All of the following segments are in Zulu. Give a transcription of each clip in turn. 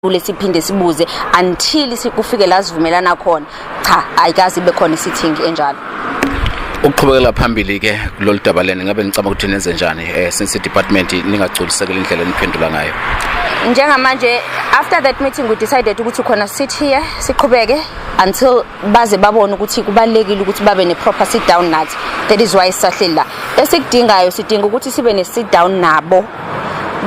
kule siphinde sibuze until sikufike la sivumelana khona cha ayikazi ibe khona isithingi enjalo ukuqhubekela phambili ke kulolu daba leni ngabe ngicabanga ukuthi nenze njani eh since department ningagculisekela indlela eniphendula ngayo njengamanje after that meeting we decided ukuthi khona sit here siqhubeke until baze babone ukuthi kubalekile ukuthi babe ne proper sit down nathi that is why sisahleli la esikudingayo sidinga ukuthi sibe ne sit down nabo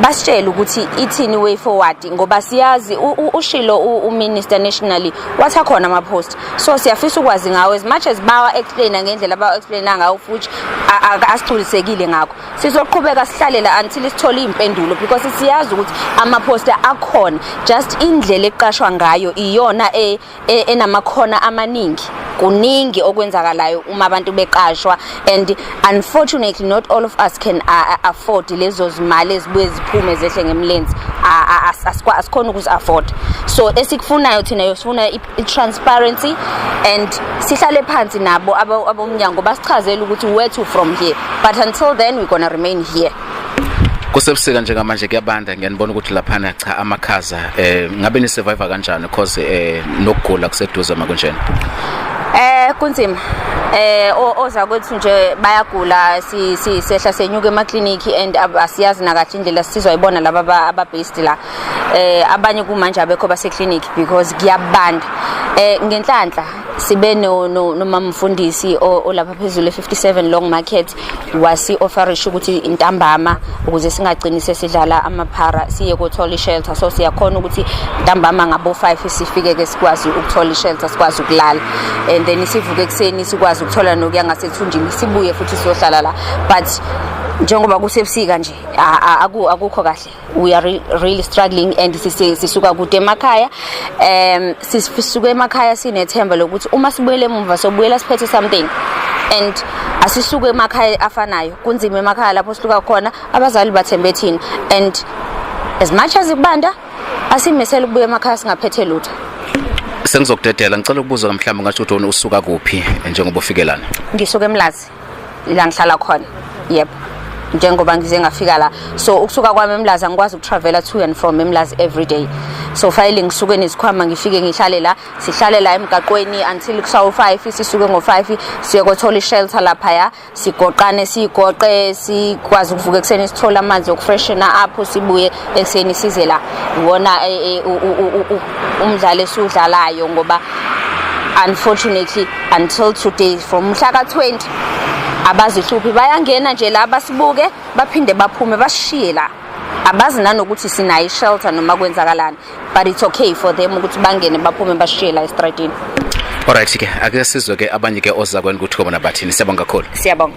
basitshele ukuthi ithini way forward ngoba siyazi ushilo uminister nationally wathi akhona ama post so siyafisa ukwazi ngawo as much as bawa explain ngendlela abawa explain ngawo futhi asigculisekile ngakho sizoqhubeka sihlalela until isithole impendulo because siyazi ukuthi ama poster akhona just indlela eqashwa ngayo iyona e e, enamakhona amaningi kuningi okwenzakalayo uma abantu beqashwa and unfortunately not all of us can afford lezo zimali ezibuye ziphume zehle ngemlenze asikhona ukuzi afford so esikufunayo thina yosifuna i-transparency and sihlale phansi nabo abomnyango basichazele ukuthi where to from here but until then we're gonna remain here kusebusika njengamanje kuyabanda ngiyanibona ukuthi laphana cha amakhaza eh ngabe ni survivor kanjani because eh nokugula kuseduze makunjena eh kunzima eh oza kwethu nje bayagula si sehla senyuke ema clinic and asiyazi nakahle indlela sisizwa ibona laba aba based la eh abanye kumanje abekho base clinic because kuyabanda eh ngenhlanhla sibe no nomamfundisi olapha phezulu e57 long market wasi-ofarisha ukuthi ntambama ukuze singagcini sesidlala amaphara siye kothola ishelter so siyakhona ukuthi ntambama ngabo-five sifike-ke sikwazi ukuthola ishelter sikwazi ukulala and then sivuke ekuseni sikwazi ukuthola nokuya ngasethunjini sibuye futhi siyohlala la but njengoba kusebusika nje akukho kahle we are really struggling and sisuka kude emakhaya um sisuke emakhaya sinethemba lokuthi uma sibuyele emuva sobuyela siphethe something and asisuke emakhaya afanayo kunzima emakhaya lapho siluka khona abazali bathembe thina and as much as kubanda asimesela ukubuya emakhaya singaphethe lutho sengizokudedela ngicela ukubuza mhlawumbe ngasho ukuthi usuka kuphi njengoba ufikelana ngisuka emlazi la ngihlala khona yep njengoba ngize ngafika la so ukusuka kwami emlazi angikwazi ukutravela to and from emlazi every day so fanele ngisuke nezikhwama ngifike ngihlale la sihlale la emgaqweni until kusawu 5 sisuke ngo 5 siye kothola ishelter lapha ya sigoqane sigoqe sikwazi ukuvuka ekseni sithola amanzi okufreshena apho sibuye ekseni size la ngona e, e, umdlalo esudlalayo ngoba unfortunately until today from mhla ka-20 abazihluphi bayangena nje la basibuke baphinde baphume basishiye la abazi nanokuthi sinayo ishelter noma kwenzakalani but it's okay for them ukuthi bangene baphume basishiye la estradini Alright ke ake sizwe ke abanye ke ozakweni ukuthi kobona bathini siyabonga kakhulu siyabonga